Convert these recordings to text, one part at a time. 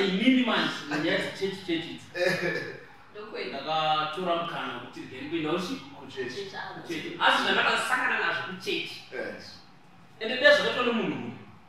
inini manje ndiyati chechi chechi ndakatora mukana kuti then kuenda uchi kuchechi asi zvandakasangana nazvo kuchechi ende dezvakaitwa nemunhu uyu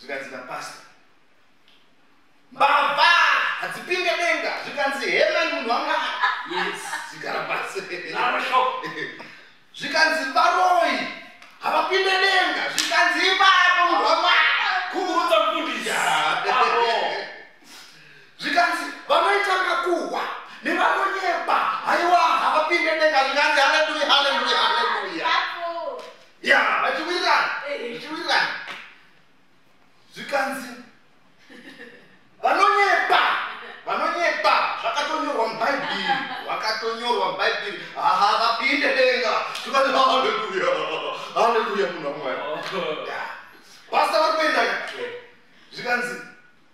zvikanzi napasta mbavha hadzipinde denga zvikanzi heman munhu wanga zigara pasi zvikanzi varoyi havapinde denga zvikanzi ipapo munhu wanga kukurudza mfundisi zvikanzi vanoita makuhwa nevanonyeba haiwa havapinde denga zvikanzi haleluya haleluya ya vachiwirirana zvichiwirirana zvikanzi vanonyepa vanonyepa zvakatonyorwa mubhaibhiri vakatonyorwa mubhaibhiri aha vapinde denga zvikanzi haleluya haleluya munhu wamwari pasta vari kuenda zvikanzi